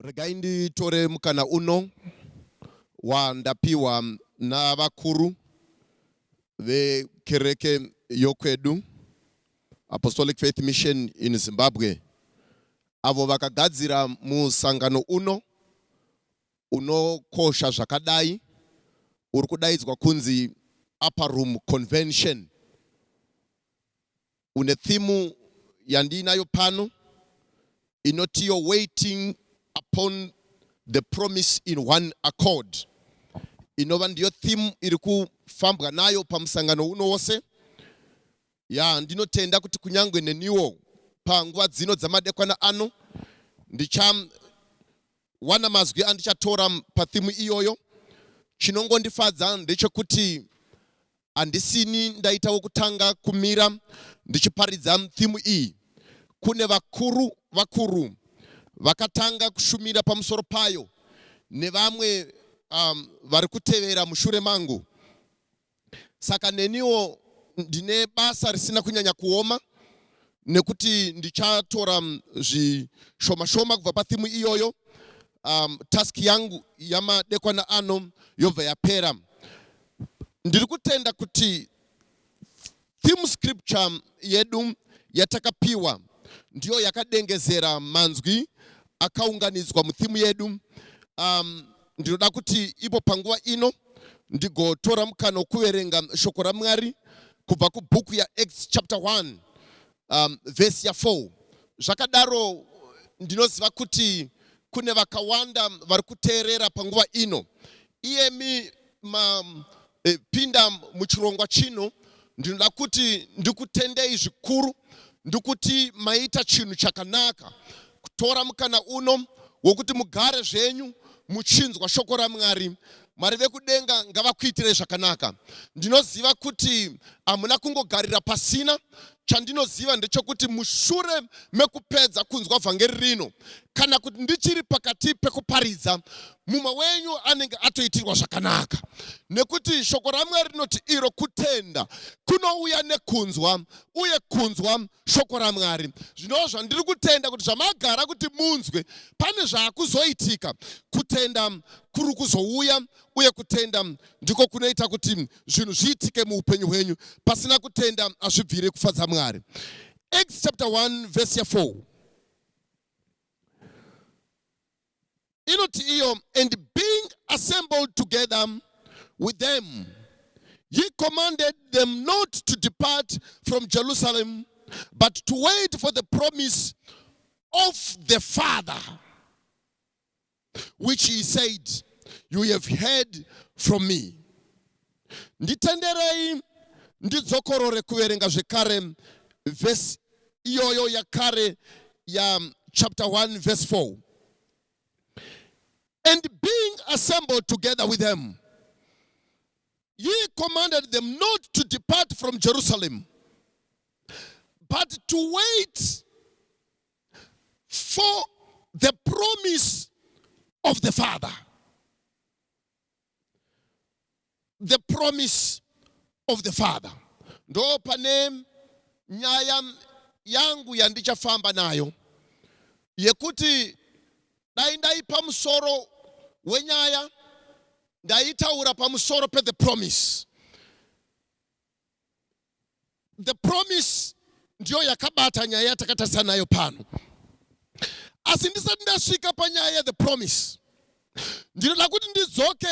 Regai nditore mukana uno wandapiwa navakuru vekereke yokwedu Apostolic Faith Mission in Zimbabwe avo vakagadzira musangano uno unokosha zvakadai uri kudaidzwa kunzi Upper Room Convention une theme yandiinayo pano inoti your waiting upon the promise in one accord inova ndiyo theme iri kufambwa nayo pamusangano uno wose ya ndinotenda kuti kunyange neniwo panguva dzino dzamadekwana ano ndichawana mazwi andichatora pathimu iyoyo chinongondifadza ndechekuti handisini ndaita wekutanga kumira ndichiparidza thimu iyi. Kune vakuru vakuru vakatanga kushumira pamusoro payo nevamwe um, vari kutevera mushure mangu. Saka neniwo ndine basa risina kunyanya kuoma nekuti ndichatora um, zvishoma shoma kubva pathimu iyoyo. Um, task yangu yamadekwana ano yobva yapera. Ndiri kutenda kuti theme scripture yedu yatakapiwa ndiyo yakadengezera manzwi akaunganidzwa muthimu yedu. Um, ndinoda kuti ipo panguva ino ndigotora mukana wokuverenga shoko raMwari kubva kubhuku yaActs chapter 1 um, vhesi ya4. Zvakadaro ndinoziva kuti kune vakawanda vari kuteerera panguva ino. Iyemi mapinda eh, muchirongwa chino ndinoda kuti ndikutendei zvikuru ndikuti maita chinhu chakanaka kutora mukana uno wokuti mugare zvenyu muchinzwa shoko ramwari mwari vekudenga ngavakuitirei zvakanaka ndinoziva kuti hamuna kungogarira pasina Chandinoziva ndechokuti mushure mekupedza kunzwa vhangeri rino, kana kuti ndichiri pakati pekuparidza, mumwe wenyu anenge atoitirwa zvakanaka. Nekuti shoko raMwari rinoti iro kutenda kunouya nekunzwa, uye kunzwa shoko raMwari. Zvino zvandiri kutenda kuti zvamagara kuti munzwe, pane zvaakuzoitika, kutenda kuri kuzouya uye kutenda ndiko kunoita kuti zvinhu zviitike muupenyu hwenyu pasina kutenda hazvibviri kufadza mwari acts chapter 1 verse 4 inoti iyo and being assembled together with them he commanded them not to depart from jerusalem but to wait for the promise of the father which he said you have heard from me nditenderei ndidzokorore kuverenga zvekare vhesi iyoyo yakare ya chapter 1 verse 4 and being assembled together with them he commanded them not to depart from jerusalem but to wait for the promise of the Father. The promise of the Father. Ndo pane nyaya yangu yandichafamba nayo yekuti dai ndaipa musoro wenyaya ndaitaura pamusoro pe the promise the promise ndiyo yakabata nyaya yatakatarisa nayo pano asi ndisati ndasvika panyaya yethe promise ndinoda kuti ndidzoke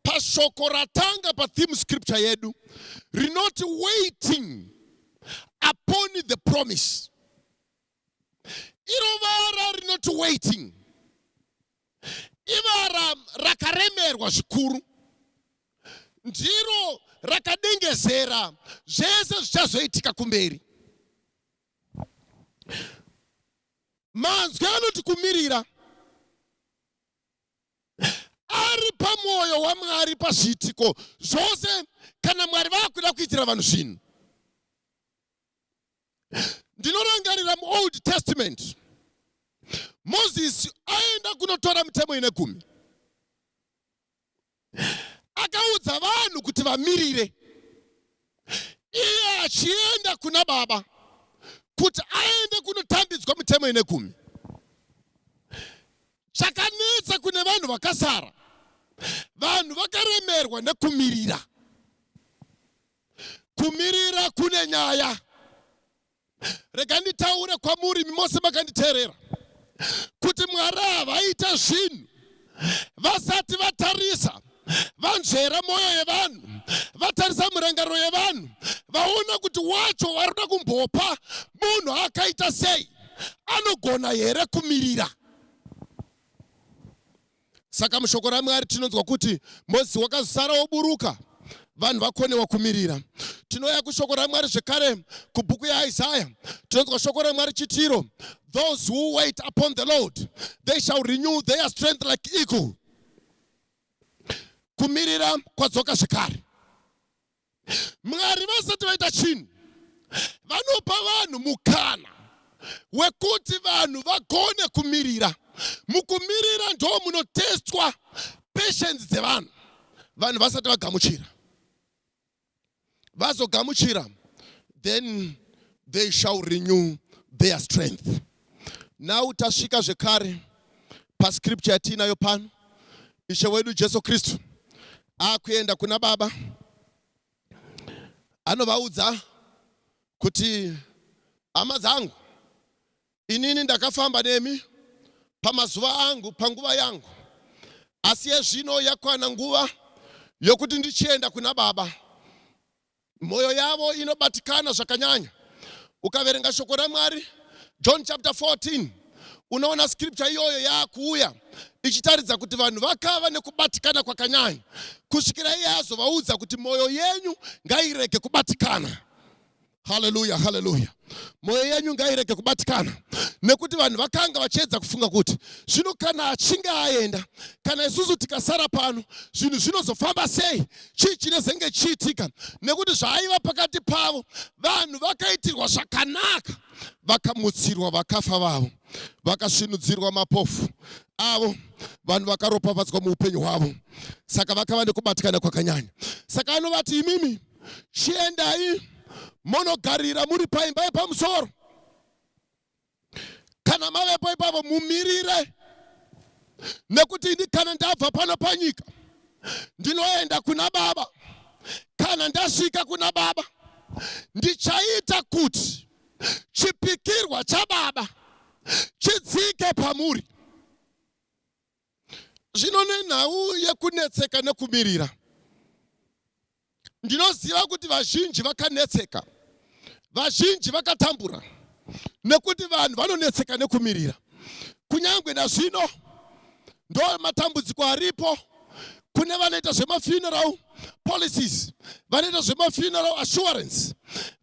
pashoko ratanga patheme scripture yedu rinoti waiting upon the promise iro vara rinoti waiting ivara rakaremerwa zvikuru ndiro rakadengezera zvese zvichazoitika kumberi manzwi anoti kumirira ari pamwoyo wamwari pazviitiko zvose kana mwari vakuda kuitira vanhu zvinhu ndinorangarira muold testament mozisi aenda kunotora mitemo ine gumi akaudza vanhu kuti vamirire iye achienda kuna baba kuti aende kunotambidzwa mitemo ine gumi chakanetsa kune vanhu vakasara vanhu vakaremerwa nekumirira Kumirira kune nyaya. Rega nditaure kwamuri mose makanditeerera kuti Mwari havaite zvinhu vasati vatarisa vanzvera mwoyo yevanhu vatarisa mirangariro yevanhu vaona kuti wacho vari kuda kumbopa munhu akaita sei anogona here kumirira Saka mushoko raMwari tinonzwa kuti Mozisi wakazara woburuka vanhu vakonewa kumirira. Tinouya kushoko raMwari zvekare kubhuku yaIsaya tinonzwa shoko raMwari chitiro those who wait upon the Lord they shall renew their strength like eagle. Kumirira kwadzoka zvekare. Mwari vasati vaita chinhu vanopa vanhu mukana wekuti vanhu vagone kumirira. Mukumirira ndo munotestwa patience dzevanhu vanhu vasati vagamuchira. Vazogamuchira then they shall renew their strength. Now tasvika zvekare pascripture yatiinayo pano. Ishe wedu Jesu Kristu akuenda kuna Baba anovaudza kuti hama dzangu, inini ndakafamba nemi pamazuva angu, panguva yangu, asi yezvino yakwana nguva yokuti ndichienda kuna Baba. Mwoyo yavo inobatikana zvakanyanya. Ukaverenga shoko raMwari, John chapter 14, unoona scripture iyoyo yaakuuya ichitaridza kuti vanhu vakava nekubatikana kwakanyanya kusvikira iye azovaudza kuti mwoyo yenyu ngairege kubatikana. Haleluya, haleluya. mwoyo yenyu ngairege kubatikana nekuti vanhu vakanga vachiedza kufunga kuti zvino kana achinge aenda kana isusu tikasara pano zvinhu zvinozofamba sei chii chinezenge chiitika nekuti zvaaiva pakati pavo vanhu vakaitirwa zvakanaka vakamutsirwa vakafa vavo vakasvinudzirwa mapofu avo vanhu vakaropafadzwa muupenyu hwavo saka vakava nekubatikana kwakanyanya saka anovati imimi chiendai monogarira muri paimba yepamusoro. Kana mavepo ipapo mumirire, nekuti ini kana ndabva pano panyika ndinoenda kuna Baba. Kana ndasvika kuna Baba ndichaita kuti chipikirwa chababa chidzike pamuri. Zvino nenhau yekunetseka nekumirira, ndinoziva kuti vazhinji vakanetseka, vazhinji vakatambura, nekuti vanhu vanonetseka nekumirira. Kunyange nazvino, ndo matambudziko aripo kune vanoita zvemafuneral, policies vanoita zvemafuneral assurance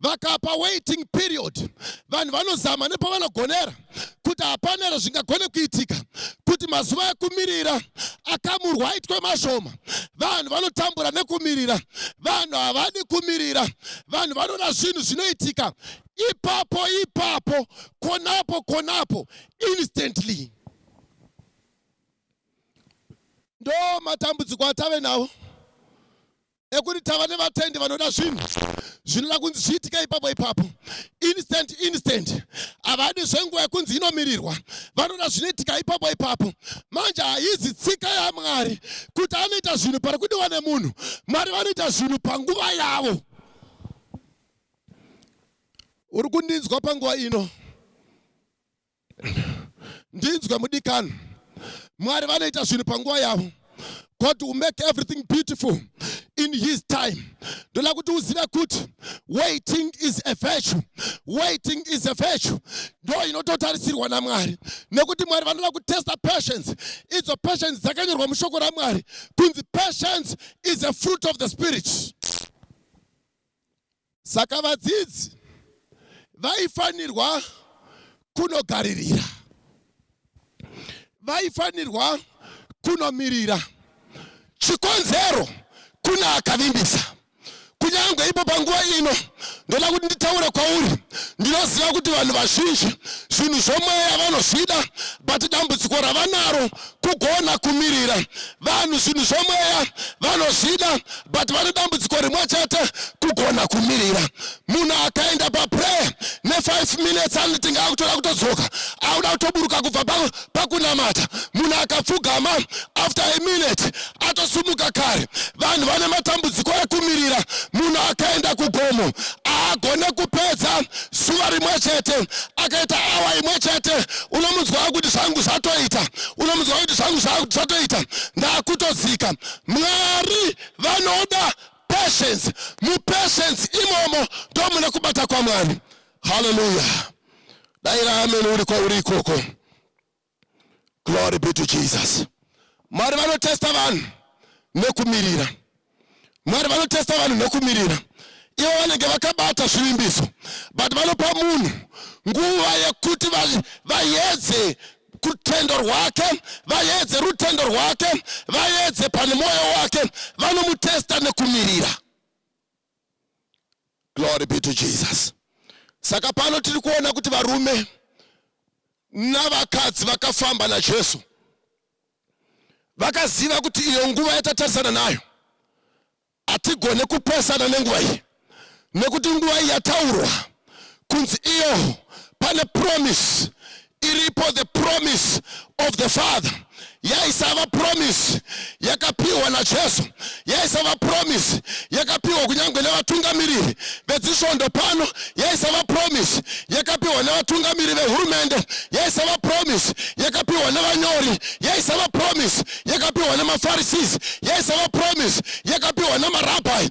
vakapa waiting period vanhu vanozama nepavanogonera kuti hapana here zvingagone kuitika kuti mazuva ekumirira akamurwa aitwe mashoma vanhu vanotambura nekumirira vanhu havadi kumirira vanhu vanoda zvinhu zvinoitika ipapo ipapo konapo konapo instantly Ndo matambudziko atave nawo ekuti tava nevatendi vanoda zvinhu zvinoda kunzi zviitike ipapo ipapo instant instant havadi zvenguva yekunzi inomirirwa vanoda zvinoitika ipapo ipapo manje haizi tsika yamwari kuti anoita zvinhu pari kudiwa nemunhu mwari vanoita zvinhu panguva yavo uri kundinzwa panguva ino ndinzwe mudikani mwari vanoita zvinhu panguva yavo god will make everything beautiful in his time ndoda kuti uzive kuti waiting is a virtue waiting is a virtue ndo inototarisirwa namwari nekuti mwari vanoda kutesta patience idzo patience dzakanyorwa mushoko ramwari kunzi patience is a fruit of the spirit Saka vadzidzi vaifanirwa kunogaririra, vaifanirwa kunomirira. Chikonzero kune akavimbisa. Kunyange ipo panguva ino, ndoda kuti nditaure kwauri. Ndinoziva kuti vanhu vazhinji zvinhu zvomweya vanozvida, but dambudziko ravanaro kugona kumirira vanhu zvinhu zvomweya vanozvida but vane dambudziko rimwe chete kugona kumirira munhu akaenda paprayer ne5 minutes anoti ngaakutoda kutodzoka akuda kutoburuka kubva pakunamata munhu akapfugama after a minute atosumuka kare. Vanhu vane matambudziko ekumirira. Munhu akaenda kugomo haagone kupedza zuva rimwe chete, akaita awa imwe chete, unomunzwa kuti zvangu zvatoita, unomunzwa kuti zvangu zvatoita, ndakutodzika. Mwari vanoda patience. Mupatience imomo ndomune kubata kwaMwari. Haleluya! Daira ameni uri kwauri ikoko. glory be to jesus mwari vanotesta vanhu nekumirira mwari vanotesta vanhu nekumirira ivo vanenge vakabata zvivimbiso but vanopa munhu nguva yekuti vayedze kutendo rwake vayedze rutendo rwake vayedze pane mwoyo wake vanomutesta nekumirira glory be to jesus saka pano tiri kuona kuti varume navakadzi vakafamba najesu vakaziva kuti iyo nguva yatatarisana nayo hatigone kupesana nenguva iyi nekuti nguva iyi yataurwa kunzi iyo pane promise iripo the promise of the father yaisava promise yakapiwa najesu yaisava promise yakapiwa kunyange nevatungamiriri vedzisvondo pano yaisava promise yakapiwa nevatungamiri vehurumende yaisava promise yakapiwa nevanyori yaisava promise yakapiwa nemapharisees yaisava promise yakapiwa nemarabhai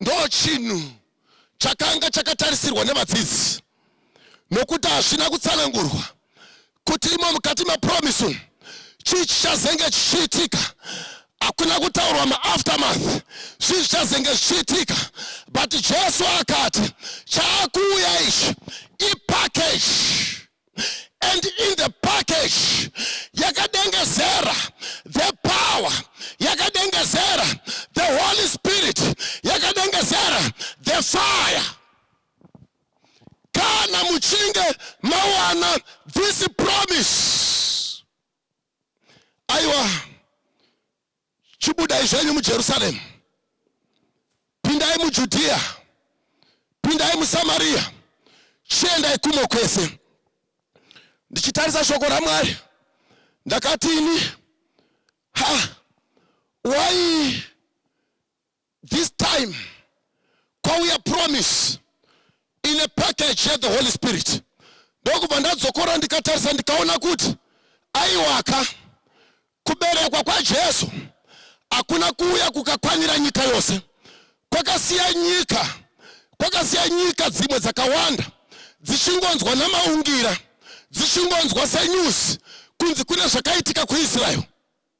ndochinhu chakanga chakatarisirwa nevadzidzi nokuti hazvina kutsanangurwa kuti imo mukati mapromise umu chii chichazenge chichiitika hakuna kutaurwa maaftermath zvii zvichazenge zvichiitika but jesu akati chaakuuya ichi ipackage and in the package yakadengezera the power yakadengezera the holy spirit yakadengezera the fire kana muchinge mawana this promise aiwa Chibudai zvenyu muJerusaremu, pindai muJudhiya, pindai muSamariya, chiendai kumo kwese. Ndichitarisa shoko raMwari, ndakati ini, ha, wai This time kwauya promise in a package ya the Holy Spirit. Ndokubva ndadzokora ndikatarisa ndikaona kuti aiwaka kuberekwa kwaJesu hakuna kuuya kukakwanira nyika yose. Kwakasiya nyika, kwakasiya nyika dzimwe dzakawanda dzichingonzwa namaungira, dzichingonzwa senews kunzi kune zvakaitika kuIsrael.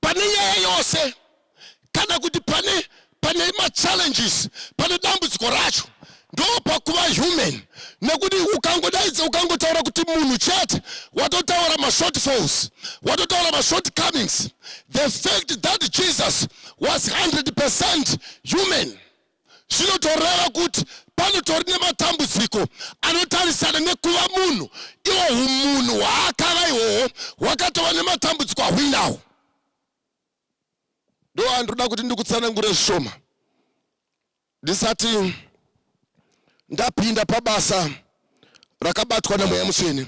pane nyaya yose kana kuti pane pane machallenges pane dambudziko racho ndopakuva human nekuti ukangodaidza ukangotaura kuti munhu chete watotaura mashortfalls watotaura mashortcomings the fact that jesus was 100 percent human zvinotoreva kuti panotori nematambudziko anotarisana nekuva munhu iwo umunhu hwaakava ihwohwo hwakatova nematambudziko ahwinawo ndo andinoda kuti ndikutsanangure zvishoma ndisati ndapinda pabasa rakabatwa namweya mutsvene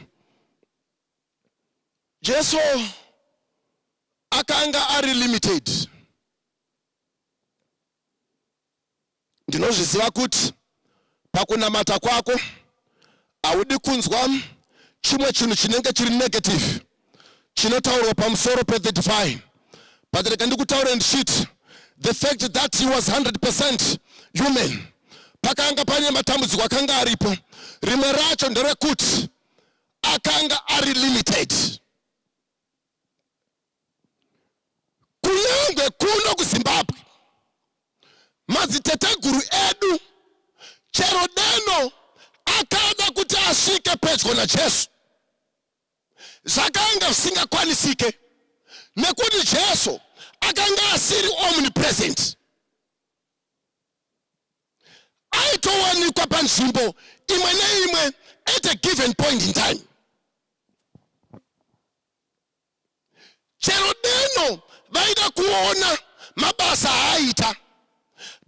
jesu akanga ari limited Ndinozviziva kuti pakunamata kwako haudi kunzwa chimwe chinhu chinenge chiri negative chinotaurwa pamusoro pethe divine but rega ndikutaure ndichiti the fact that he was 100 percent human pakanga pane matambudziko akanga aripo rimwe racho nderekuti akanga ari limited kunyangwe kuno kuzimbabwe madziteteguru edu chero deno akada kuti asvike pedyo najesu zvakanga zvisingakwanisike nekuti jesu akanga asiri omnipresent aitowanikwa panzvimbo imwe neimwe at a given point in time chero deno vaida kuona mabasa aaita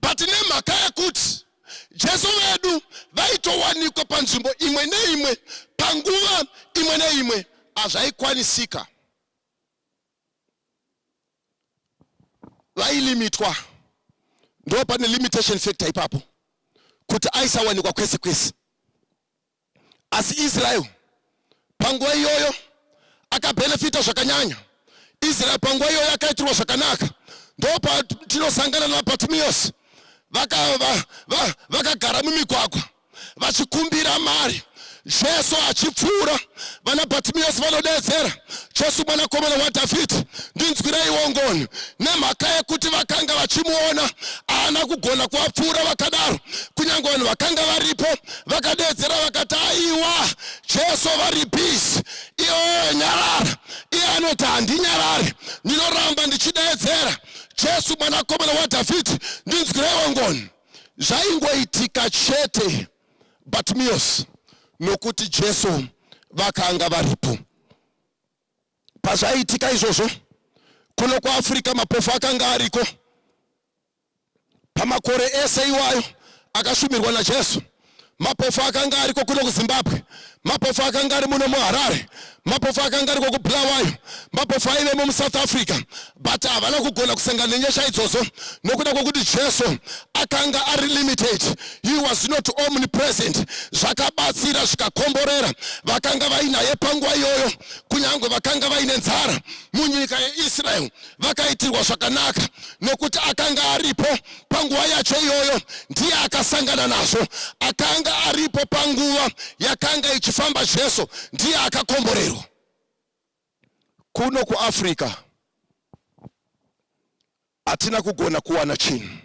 but nemhaka yekuti jesu vedu vaitowanikwa panzvimbo imwe neimwe panguva imwe neimwe hazvaikwanisika vailimitwa ndo pane limitation factor ipapo kuti aisawanikwa kwese kwese Asi Israel panguva iyoyo akabenefita zvakanyanya. Israel panguva iyoyo akaitirwa zvakanaka. Ndopatinosangana naBartimaeus vakagara mumigwagwa vachikumbira mari jesu achipfuura vana bhatimiyasi vanodeedzera jesu mwanakomana wadhavhidhi ndinzwireiwo ngoni nemhaka yekuti vakanga vachimuona haana kugona kuvapfuura vakadaro kunyange vanhu vakanga varipo vakadeedzera vakati aiwa jesu vari peace iwewe nyarara iye anoti handinyarari ndinoramba ndichideedzera jesu mwanakomana wadhavhidhi ndinzwireiwo ngoni zvaingoitika chete batimios nokuti jesu vakanga varipo pazvaiitika izvozvo kuno kuafrica mapofu akanga ariko Pamakore ese iwayo akashumirwa naJesu, mapofu akanga ariko kuno kuZimbabwe, mapofu akanga ari muno muHarare, mapofu akanga ariko kuBulawayo, mapofu aivemo muSouth Africa, but havana kugona kusangana nenyasha idzodzo nokuda kwekuti Jesu akanga ari limited. He was not omnipresent. Zvakabatsira zvikakomborera vakanga vainaye panguva iyoyo, kunyange vakanga vaine nzara munyika yeIsrael. vakaitirwa zvakanaka nekuti akanga aripo panguva yacho iyoyo ndiye akasangana nazvo akanga aripo panguva yakanga ichifamba jesu ndiye akakomborerwa kuno kuafrica hatina kugona kuwana chinhu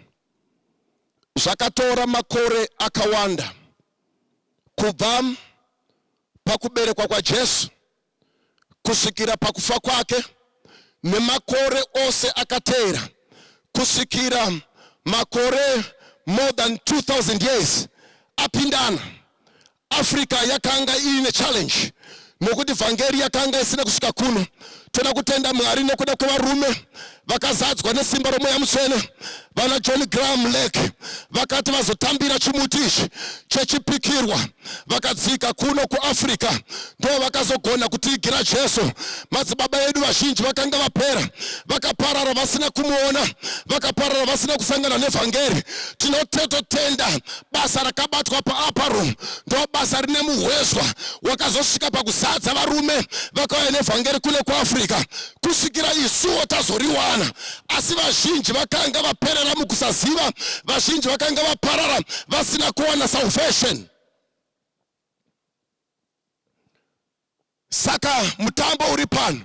zvakatora makore akawanda kubva pakuberekwa kwajesu kusvikira pakufa kwake nemakore ose akateera kusvikira makore more than 2000 years apindana africa yakanga iine challenge nokuti vhangeri yakanga isina kusvika kuno toda kutenda mwari nokuda kwevarume vakazadzwa nesimba romweya mutsvene vana john graham lake vakati vazotambira chimuti ichi chechipikirwa vakadzika kuno kuafrica ndo vakazogona kutiigira jesu madzibaba edu vazhinji vakanga vapera vakaparara vasina kumuona vakaparara vasina kusangana nevhangeri tinotetotenda basa rakabatwa paapa room ndo basa rine muhwezwa wakazosvika pakuzadza varume vakauya nevhangeri kune kuafrica kusvikira isuwo tazoriwana asi vazhinji vakanga vaperera mukusaziva vazhinji vakanga vaparara vasina kuwana salvation saka mutambo uri pano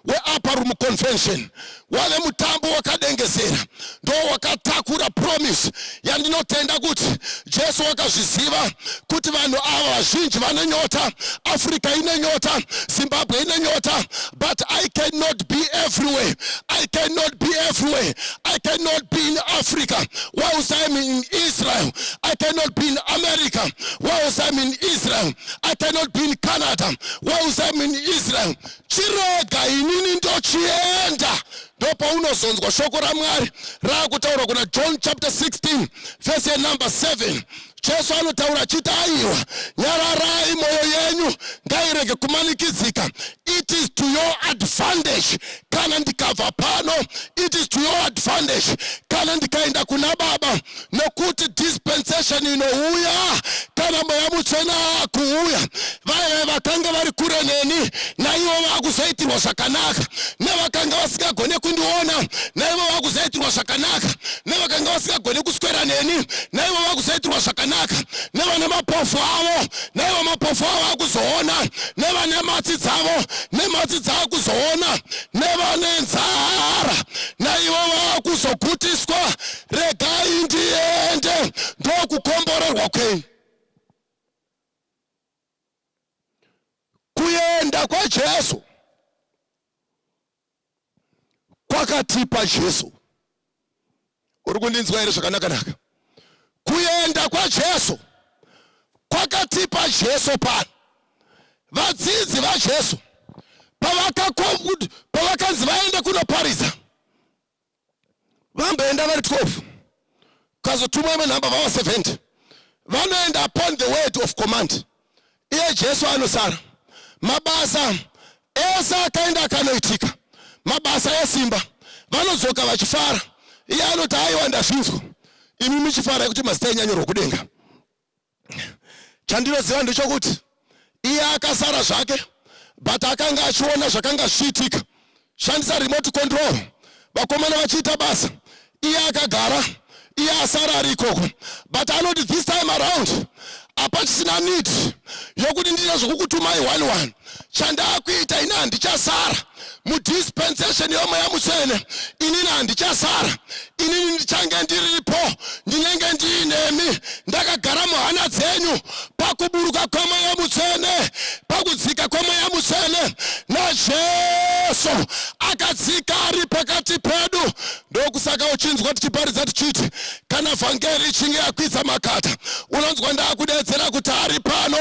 weupper room convention wave mutambo wakadengezera ndowakatakura promise yandinotenda kuti jesu wakazviziva kuti vanhu ava vazhinji vane nyota africa ine nyota zimbabwe ine nyota but i cannot be everywhere i cannot be everywhere i cannot be in africa whilst im in israel i cannot be in america whilst im in israel i cannot be in canada whilst im in israel chirega inini ndochienda ndopaunozonzwa shoko ramwari raakutaura kuna john chapter 16 vese yenumber 7 jesu anotaura achiti aiwa nyararai mwoyo yenyu ngairege kumanikidzika it is to your advantage kana ndikabva pano it is to your advantage kana ndikaenda kuna baba nokuti dispensation inouya kana mweya mutsvene akuuya vaive vakanga vari kure neni naivo vakuzoitirwa zvakanaka nevakanga vasingagone kundiona naivo vakuzoitirwa zvakanaka nevakanga vasingagone kuswera neni naivo vakuzoitirwa zvakanaka nevane mapofu avo naivo mapofu avo akuzoona nevane matsi dzavo nematsi dzaakuzoona nevane nzara naivo vakuzogutiswa regai ndiende ndokukomborerwa kwei kuenda kwajesu kwakatipa jesu uri kundinzwa here zvakanakanaka kuenda kwajesu kwakatipa jesu pano vadzidzi vajesu pavakanzi vaende kunoparidza vamboenda vari 12 kazotumwa imwe nhamba vava 70 vanoenda upon the word of command iye jesu anosara mabasa ese akaenda akanoitika mabasa esimba vanodzoka vachifara iye anoti aiwa ndazvinzwa imi muchifara yekuti mazita enyu anyorwa kudenga chandinoziva ndechokuti iye akasara zvake but akanga achiona zvakanga zvichiitika shandisa remote control vakomana vachiita basa iye akagara iye asara ari ikoko but anoti this time around hapachisina need yokuti ndiite zvokukutumai one one chandakuita ini handichasara mudispensation yomweya mutsvene inini handichasara inini ndichange ndiripo ndinenge ndiinemi ndakagara muhana dzenyu pakuburuka kwemweya mutsvene pakudzika kwemweya mutsvene najesu akadzika ari pakati pedu ndokusaka uchinzwa tichiparidza tichiti kana vhangeri ichinge yakwidza makata unonzwa ndakudedzera kuti ari pano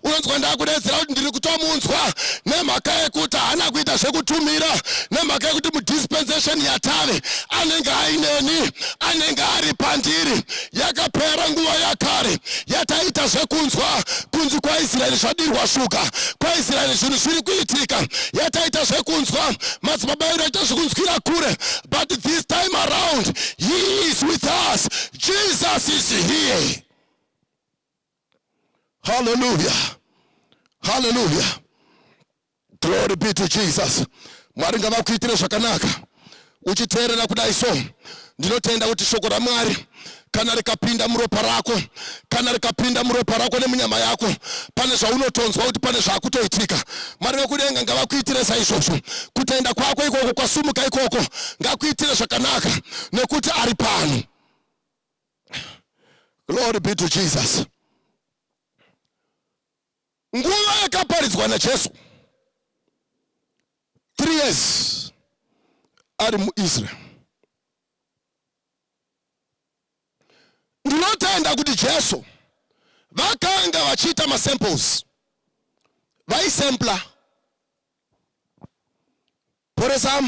unonzwa ndakudedzera kuti ndiri kutomunzwa nemhaka yekuti haana kuita zvekutumira nemhaka yekuti mudispensation yatave anenge aineni anenge ari pandiri yakapera nguva yakare yataita zvekunzwa kunzi kwaisraeri zvadirwa shuga kwaisraeri zvinhu zviri kuitika yataita zvekunzwa madzibaba edu aita zvekunzwira kure but this time around he is with us jesus is here Hallelujah. Hallelujah. Glory be to Jesus. Mwari ngavakuitire zvakanaka uchiteerera kudai so ndinotenda kuti shoko ramwari kana rikapinda muropa rako kana rikapinda muropa rako nemunyama yako pane zvaunotonzwa kuti pane zvakutoitika mwari vekudenga ngavakuitire saizvozvo kutenda kwako ikoko kwasumuka ikoko ngakuitire zvakanaka nekuti ari pano Glory be to Jesus. Nguva yakaparidzwa naJesu 3 years ari muIsrael. Ndinotenda kuti Jesu vakanga vachiita masamples vaisempla poresa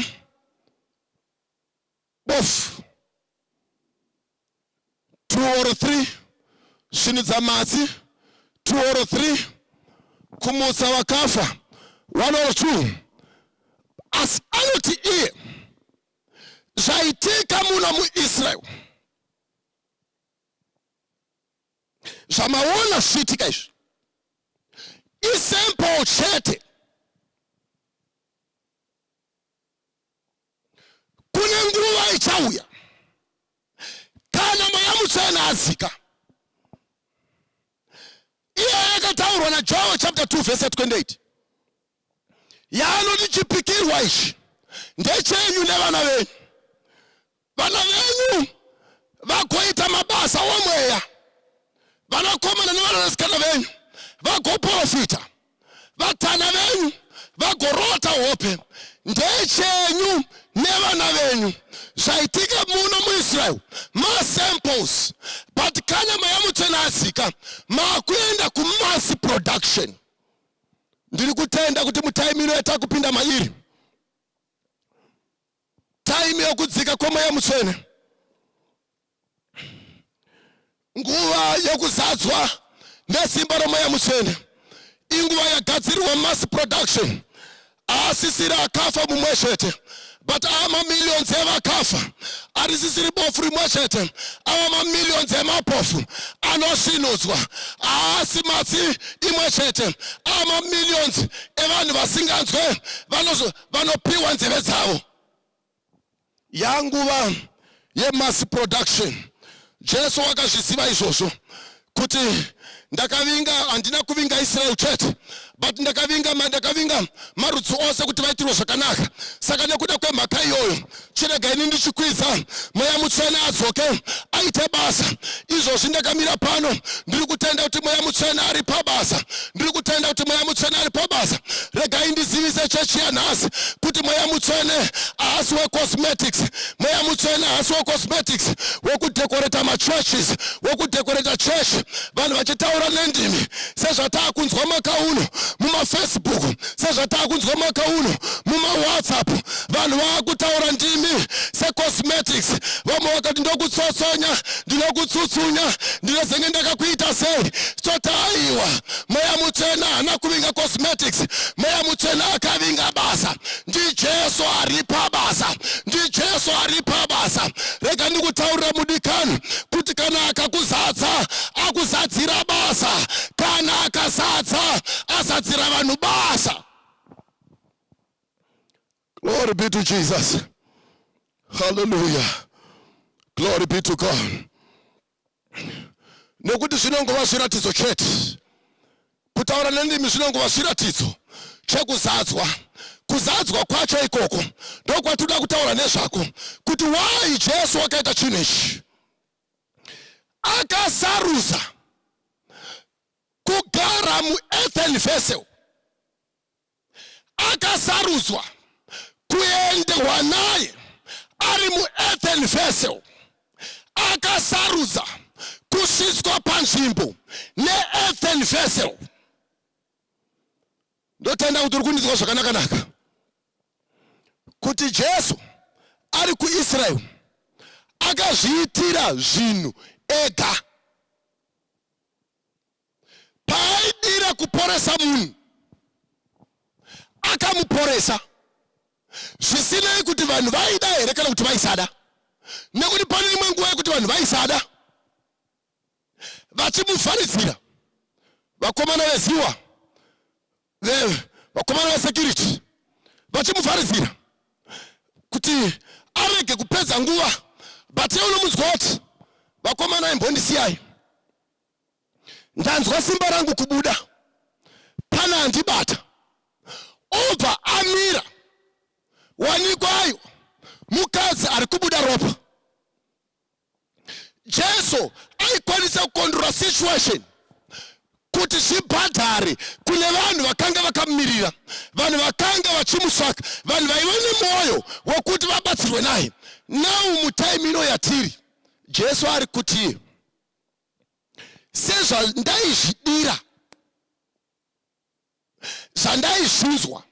Bofu two or three, svinudza matsi two or three, kumutsa vakafa one or two. Asi anoti iye zvaitika muno muIsrael zvamaona zvichiitika izvi isemple chete kune nguva ichauya kana mweya mutsvene adzika iyeyo yakataurwa najohn chapter 2 verse 28 yaanoti chipikirwa ichi ndechenyu nevana venyu vana venyu vagoita mabasa omweya vanakomana nevanasikana venyu vagoprofita vatana venyu vagorota hope ndechenyu nevana venyu zvaitika muno muisrael masamples but kana mweya mutsvene asika makuenda kumass production ndiri kutenda kuti mutaimiro yatakupinda mairi Time yokudzika kwemweya mutsvene, nguva yokuzadzwa nesimba romweya mutsvene inguva yagadzirirwa mass production aasisiri akafa mumwe chete but ava mamillions evakafa arisisiri bofu rimwe chete ava mamillions emapofu anosvinudzwa haasi matsi imwe chete ava mamillions evanhu vasinganzwe vanozo vanopiwa nzeve dzavo yanguva yemass production jesu wakazviziva izvozvo kuti ndakavinga handina kuvinga israel chete but ndakavinga ndakavinga marudzi ose kuti vaitirwe zvakanaka saka nekuda kwemhaka iyoyo chirega ini ndichikwiza mweya mutsvene adzoke aite basa izvozvi ndakamira pano ndiri kutenda kuti mweya mutsvene ari pabasa ndiri kutenda kuti mweya mutsvene ari pabasa regai ndizivise chechi yanhasi kuti mweya mutsvene haasi wecosmetics mweya mutsvene haasi wecosmetics wekudekoreta machurches wekudekoreta church vanhu vachitaura nendimi sezvataa kunzwa makauno mumafacebook sezvatakunzwa mwaka uno mumawhatsapp vanhu vakutaura ndimi secosmetics vamwe vakati ndokutsotsonya ndinokutsutsunya ndinozenge ndakakuita sei toti aiwa mweya mutsvena haana kuvinga cosmetics mweya mutsvena akavinga basa ndijesu ari pabasa ndijesu ari pabasa rega ndikutaurira mudikani kuti kana akakuzadza akuzadzira basa kana akazadza azadzira vanhu basa glory be to jesus haleluya glory be to god nekuti zvinongova zviratidzo chete kutaura nendimi zvinongova zviratidzo chekuzadzwa kuzadzwa kwacho ikoko ndokwatinoda kutaura nezvako kuti why jesu wakaita chinhu ichi akasarudza kugara muearthen vessel akasarudzwa kuendehwa naye ari muearthen vessel akasarudza kusvitswa panzvimbo neearthen vessel ndotenda kuti uri kundinzwa zvakanakanaka kuti Jesu ari kuIsrael akazviitira zvinhu ega. Paaidira kuporesa munhu, akamuporesa zvisinei kuti vanhu vaida here kana kuti vaisada, nekuti pane imwe nguva yekuti vanhu vaisada vachimuvharidzira vakomana veziwa vakomana vesecurity vachimuvharidzira kuti arege kupedza nguva but ye unomunzwa kuti vakomana imbondisiyai ndanzwa simba rangu kubuda pana handibata obva amira wanikwayo mukadzi ari kubuda ropa Jesu aikwanisa kukondora situation kuti zvibhadhare kune vanhu vakanga vakamirira vanhu vakanga vachimusaka vanhu vaiva nemwoyo wekuti vabatsirwe naye nau mutaimi ino yatiri jesu ari kuti sezvandaizvidira zvandaizvinzwa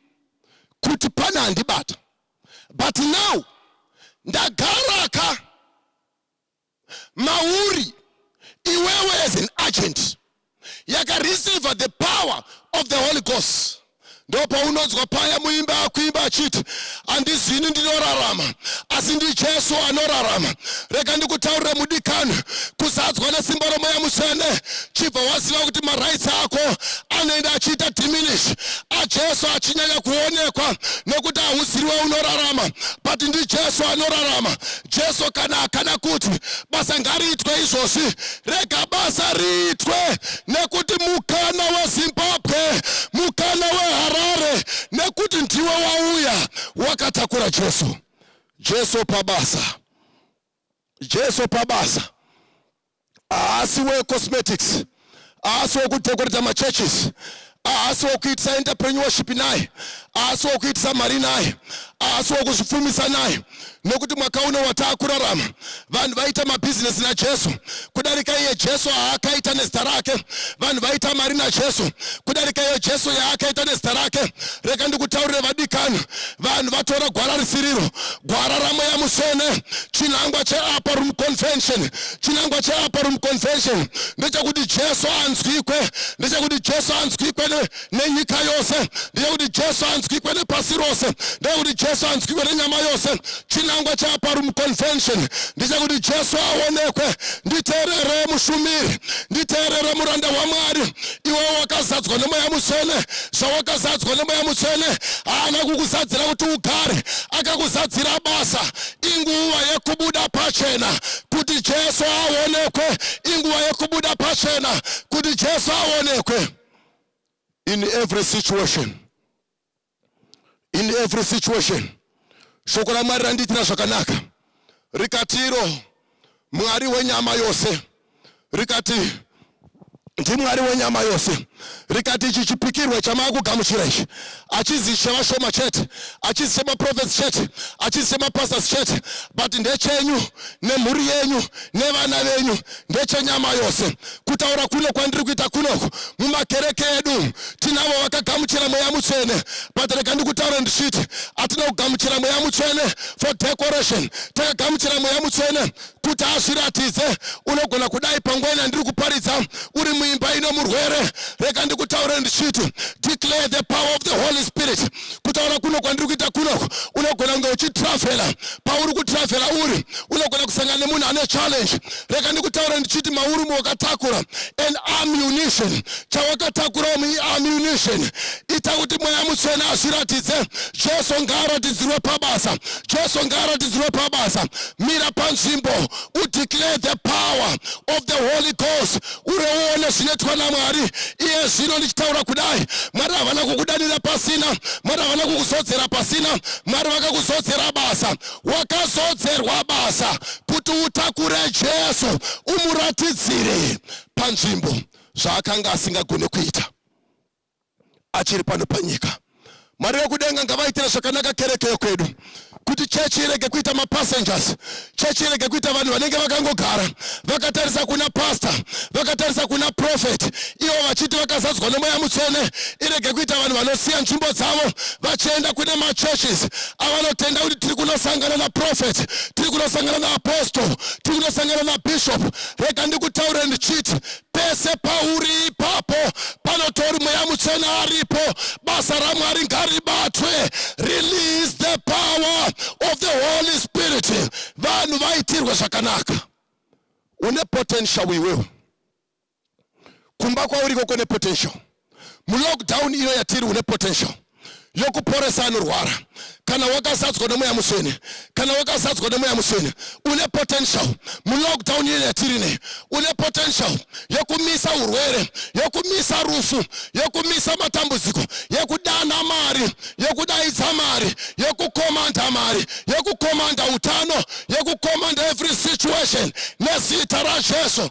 kuti pane andibata but now ndagara ka mauri iwewe as an agent yakareceiver the power of the holy ghost ndopaunonzwa paya muimba akuimba achiti handizi ini ndinorarama asi ndijesu anorarama rega ndikutaurire mudikani kuzadzwa nesimba romweya mutsvene chibva waziva kuti maraitsi ako anoenda achiita diminish ajesu achinyanya kuonekwa nekuti hauziriwe unorarama but ndijesu anorarama jesu kana akana kuti basa ngariitwe izvozvi Rega basa riitwe nekuti mukana weZimbabwe, mukana weHarare nekuti ndiwe wauya wakatakura Jesu. Jesu pabasa. Jesu pabasa. Haasi wecosmetics. Haasi wekudhekoreta machurches. ahasi wokuitisa entrepreneurship naye ahasi wokuitisa mari naye ahasi wokuzvipfumisa naye nokuti mwaka uno wataakurarama vanhu vaita mabhizinesi najesu kudarika iye jesu aakaita nezita rake vanhu vaita mari najesu kudarika iyo jesu yaakaita nezita rake reka ndikutaurire vadikani vanhu vatora gwara risiriro gwara ramweya musene chinangwa cheapa room convention chinangwa cheapa room convention ndechakuti jesu anzwikwe ndechakuti jesu anzwikwe nenyika yose ndechakuti jesu anzwikwe nepasi rose ndechakuti jesu anzwikwe nenyama yose chinangwa cheapa room convention ndechakuti jesu aonekwe nditeerere mushumiri nditeerere muranda wamwari iwe wakazadzwa nemweya mutsvene zvawakazadzwa nemweya mutsvene haana kukuzadzira kuti ugare akakuzadzira basa inguva yekubuda pachena kuti jesu aonekwe inguva yekubuda pachena kuti jesu aonekwe in every situation in every situation shoko ramwari randiitira zvakanaka rikatiro mwari wenyama yose rikati ndimwari wenyama yose rikati ichi chipikirwe chamakugamuchira ichi achizi chevashoma chete achizi chemaprofets chete achizi chemapastors chete but ndechenyu nemhuri yenyu nevana venyu ndechenyama yose kutaura kuno kwandiri kuita kunoku mumakereke edu tinavo vakagamuchira mweya mutsvene but rega ndikutaura ndichiti atina kugamuchira mweya mutsvene for decoration takagamuchira mweya mutsvene kuti azviratidze unogona kudai panguva ina ndiri kuparidza uri muimba ino murwere rega ndikutaure ndichiti declare the power of the holy spirit kutaura kuno kwandiri kuita kunoko unogona kunge uchitravhela pauri kutravhela uri unogona kusangana nemunhu ane challenge rega ndikutaure ndichiti mauri muwakatakura an ammunition chawakatakurawo muammunition ita kuti mweya mutsvene azviratidze jesu ngaaratidzirwe pabasa Jesu ngaaratidzirwe pabasa. Mira panzvimbo udeclare the power of the Holy Ghost, ureuone zvinoitwa naMwari iye zvino. Ndichitaura kudai, Mwari havana kukudanira pasina, Mwari havana kukuzodzera pasina, Mwari vakakuzodzera basa. Wakazodzerwa basa kuti utakure Jesu, umuratidzire panzvimbo zvaakanga asingagone kuita. achiri pano panyika. Mwari wekudenga ngavaitire zvakanaka kereke yekwedu kuti chechi irege kuita mapassengers chechi irege kuita vanhu vanenge vakangogara vakatarisa kuna pastor vakatarisa kuna prophet ivo vachiti vakazadzwa nemweya mutsvene irege kuita vanhu vanosiya nzvimbo dzavo vachienda kune machurches avanotenda kuti tiri kunosangana naprofet tiri kunosangana naapostle tiri kunosangana nabishop rega ndikutaure ndichiti pese pauri ipapo panotori mweya mutsvene aripo basa ramwari ngaribatwe release the power of the holy spirit vanhu vaitirwe zvakanaka une potential iwewe kumba kwauriko kune potential mulockdown ino yatiri une potential yokuporesa anorwara kana wakazadzwa nemweya mutsvene kana wakazadzwa nemweya mutsvene une potential mulockdown ino yatiri ne une potential yokumisa urwere yokumisa rufu yokumisa matambudziko yokudana mari yokudaidza mari yokukomanda mari yokukomanda utano yokukomanda every situation nezita rajesu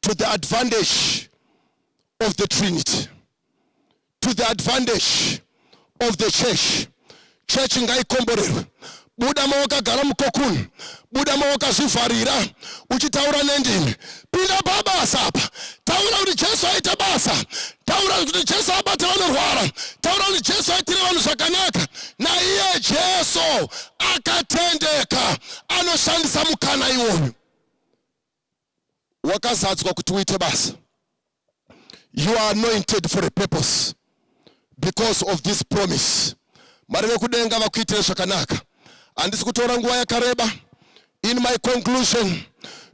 to the advantage of the trinity to the advantage of the church church ngaikomborerwe buda mawakagara mukokuni buda mawakazvivharira uchitaura nendimi pinda pabasa apa taura kuti jesu aita basa taura kuti jesu abata vanorwara taura kuti jesu aitire vanhu zvakanaka naiye jesu akatendeka anoshandisa mukana iwoyu wakazadzwa kuti uite basa you are anointed for a purpose because of this promise mwari vekudenga vakuitire zvakanaka handisi kutora nguva yakareba in my conclusion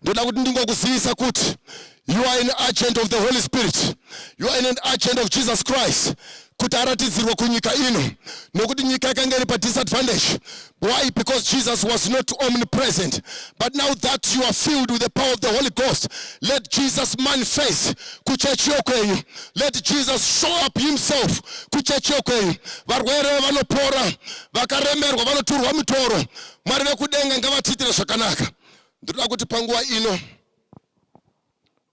ndoda kuti ndingokuzivisa kuti you are an agent of the holy spirit you are an agent of jesus christ kuti aratidzirwe kunyika ino nokuti nyika yakanga iri padisadvantage why because jesus was not omnipresent but now that you are filled with the power of the holy ghost let jesus manifest kuchechi yokwenyu let jesus show up himself kuchechi yokwenyu varwere vanopora vakaremerwa vanoturwa mitoro mwari vekudenga ngavatiitire zvakanaka ndinoda kuti panguva ino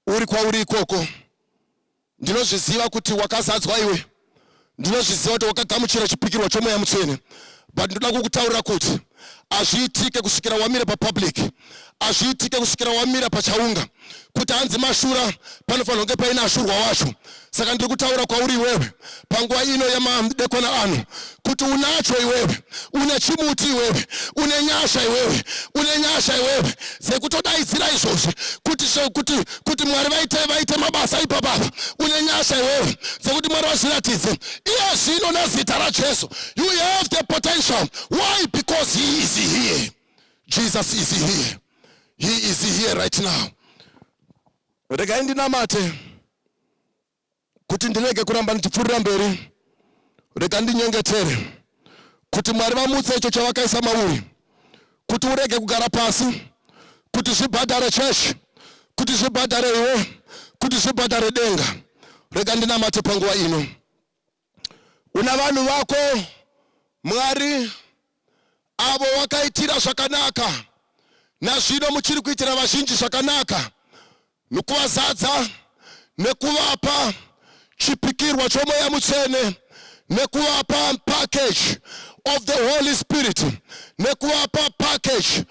uri kwauri ikoko ndinozviziva kuti wakazadzwa iwe ndinozviziva kuti wakagamuchira chipikirwa chomweya mutsvene but ndinoda kukutaurira kuti hazviitike kusvikira wamira papublic hazviitike kusvikira wamira pachaunga kuti hanzi mashura panofanira kunge paine ashurwa wacho saka ndiri kutaura kwauri iwewe panguva ino yemadekwana ano kuti unacho iwewe une chimuti iwewe une nyasha iwewe une nyasha iwewe dzekutodaidzira izvozvi kuti kuti kuti mwari vaite vaite mabasa ipapapa une nyasha iwewe dzekuti mwari vazviratidze iye zvino nezita rajesu you have the potential why because he is here jesus is here he is here right now regai ndinamate kuti ndirege kuramba ndichipfuurira mberi, rega ndinyengetere kuti Mwari vamutse icho chavakaisa mauri, kuti urege kugara pasi, kuti zvibhadhare chechi, kuti zvibhadhare iwe, kuti zvibhadhare denga. Rega ndinamate panguva ino. Una vanhu vako Mwari avo wakaitira zvakanaka, nazvino muchiri kuitira vazhinji zvakanaka nokuvazadza nekuvapa chipikirwa chomweya mutsvene nekuvapa package of the Holy Spirit nekuvapa package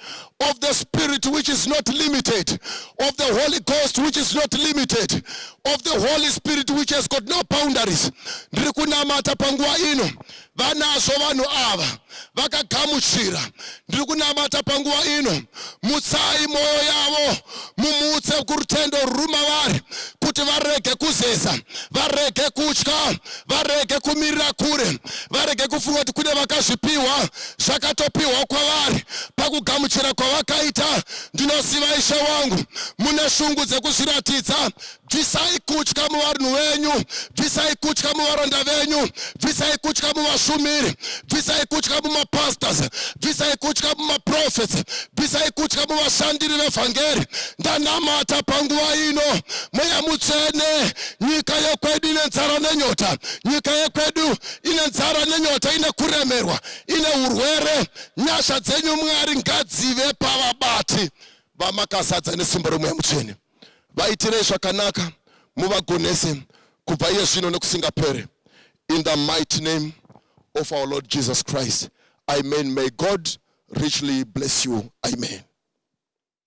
of the spirit which is not limited of the holy ghost which is not limited of the holy spirit which has got no boundaries ndiri kunamata panguva ino vanazvo vanhu ava vakagamuchira ndiri kunamata panguva ino mutsai mwoyo yavo mumutse kurutendo rwuri mavari kuti varege kuzeza varege kutya varege kumirira kure varege kufunga kuti kune vakazvipiwa zvakatopiwa kwavari pakugamuchira kwavakaita ndinoziva ishe wangu mune shungu dzekuzviratidza bvisai kutya muvanhu venyu bvisai kutya muvaranda venyu bvisai kutya muvashumiri bvisai kutya mumapastors bvisai kutya mumaprofets bvisai kutya muvashandiri vevhangeri ndanamata panguva ino mweya mutsvene nyika yekwedu ine nzara nenyota nyika yekwedu ine nzara nenyota ine kuremerwa ine urwere nyasha dzenyu mwari ngadzive pavabati vamakazadza nesimba romweya mutsvene vaitirei zvakanaka muvagonese kubva iye zvino nekusingapere in the mighty name of our lord jesus christ amen may god richly bless you amen